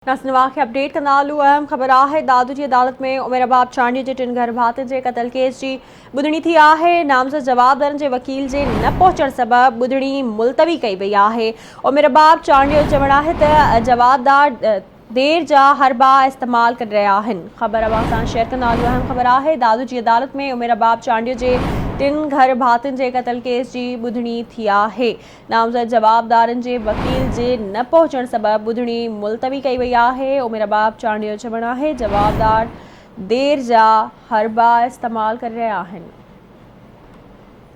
ناصر نواز کي اپڊيٽ ڪندا هلو اهم خبر آهي دادو جي عدالت ۾ عمر ارباب چانڊيو جي ٽن گهر ڀاتين جي قتل ڪيس جي ٻڌڻي ٿي آهي نامزد جوابدارن جي وڪيل جي نه پهچڻ سبب ٻڌڻي ملتوي ڪئي وئي آهي عمر ارباب چانڊيو چوڻ آهي ته جوابدار دير جا حربا استعمال ڪري رهيا آهن خبر اوهان سان شيئر ڪندا هلو اهم خبر آهي دادو جي عدالت ۾ عمر ارباب چانڊيو جي ٽن گهر ڀاتين جي قتل ڪيس جي ٻڌڻي ٿي آهي نامزد جوابدارن جي وڪيل جي نه پهچڻ سبب ٻڌڻي ملتوي ڪئي وئي آهي، عمر رباب چانڊيو چوڻ آهي جوابدار دير جا حربا استعمال ڪري رهيا آهن.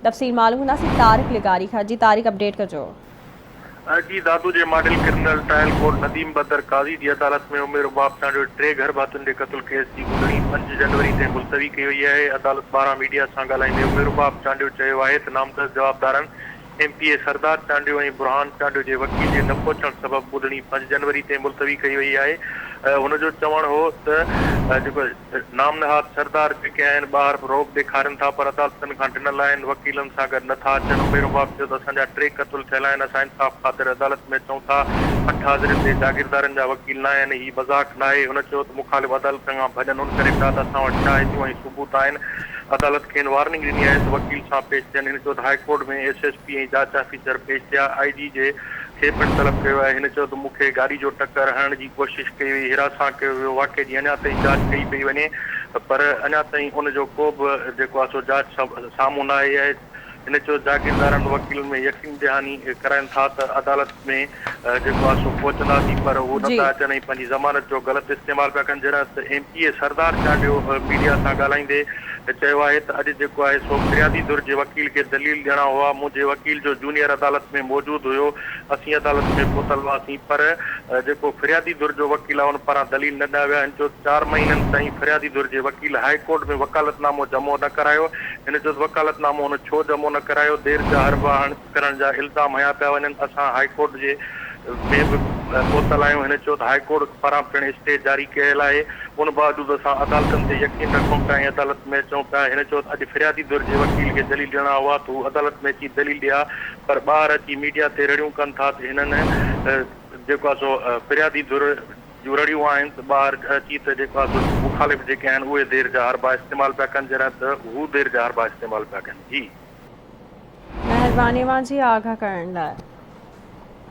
تفصيل معلوم ڪنداسين طارق لغاري کان جي طارق اپڊيٽ ڪجو. اي جي دادو جي model criminal trial court Nadeem Badar Qazi جي عدالت ۾ عمر رباب چانڊيو ٽي گهر ڀاتين جي قتل ڪيس جي ٻڌڻي پنج جنوري تائين ملتوي ڪئي وئي آهي عدالت ٻاهران ميڊيا سان ڳالهائيندي عمر رباب چانڊيو چيو آهي ته نامزد جوابدارن M P A Sardar Chandio ۽ Burhan Chandio جي وڪيل جي نه پهچڻ سبب ٻڌڻي پنج جنوري تي ملتوي ڪئي وئي آهي. هن جو چوڻ هو ته جيڪو نام نهاد سردار جيڪي آهن ٻاهر به رعب ڏيکارين ٿا پر عدالتن کان ڊنل آهن وڪيلن سان گڏ نه ٿا اچن. عمير حباب چيو ته اسان جا ٽي قتل ٿيل آهن اسان انصاف خاطر عدالت ۾ اچون ٿا اٺ حاضرين تي جاگيردارن جا وڪيل ناهن هي مذاق ناهي هن چيو ته مخالف عدالتن کان ڀڄن ان ڪري پيا ته اسان وٽ شاهديون ۽ ثبوت آهن عدالت کين وارننگ ڏني آهي ته وڪيل صاحب پيش ٿين، هن چيو ته high court ۾ S S P ۽ جاچ آفيسر پيش ٿيا، آء جي جي کي پڻ طلب ڪيو ويو آهي، هن چيو ته مون کي گاڏي جو ٽڪر هڻڻ جي ڪوشش ڪئي وئي، هراسان ڪيو ويو، واقعي جي اڃا تائين جاچ ڪئي پئي وڃي پر اڃا تائين ان جو ڪو به جيڪو آهي سو جاچ سامهون نه آئي آهي. هن چيو جاگيردارن وڪيلن ۾ يقين دهاني ڪرائين ٿا ته عدالت ۾ جيڪو آهي سو پهچنداسين پر اهو نه ٿا اچن ۽ پنهنجي ضمانت جو غلط استعمال پيا ڪن جڏهن ته M P A Sardar Chandio media سان ڳالهائيندي چيو آهي ته اڄ جيڪو آهي سو فريادي ڌر جي وڪيل کي دليل ڏيڻا هئا منهنجي وڪيل جو جونيئر عدالت ۾ موجود هيو اسين عدالت ۾ پهتل هئاسين پر جيڪو فريادي ڌر جو وڪيل آهي ان پاران دليل نه ڏنا ويا هن چيو چار مهينن تائين فريادي ڌر جي وڪيل هاء ڪورٽ ۾ وڪالت نامو جمع نه ڪرايو هن چيس وڪالت نامو هن ڇو جمع نه ڪرايو، دير جا حربا هڻ ڪرڻ جا الزام هنيا پيا وڃن، اسان هاء ڪورٽ جي ۾ به پهتل آهيون، هن چيو ته هاء ڪورٽ پاران پڻ اسٽي جاري ڪيل آهي، ان باوجود اسان عدالتن تي يقين رکون پيا ۽ عدالت ۾ اچون پيا، هن چيو ته اڄ فريادي ڌر جي وڪيل کي دليل ڏيڻا هئا ته هو عدالت ۾ اچي دليل ڏئي ها پر ٻاهر اچي ميڊيا تي رڙيون ڪن ٿا ته هنن جيڪو آهي سو فريادي ڌر جون رڙيون آهن ته ٻاهر گهه چيت جيڪو آهي سو مخالف جيڪي آهن اهي دير جا حربا استعمال پيا ڪن جڏهن ته هو دير جا حربا استعمال پيا ڪن جي. مهرباني اوهان جي آگهه ڪرڻ لاء.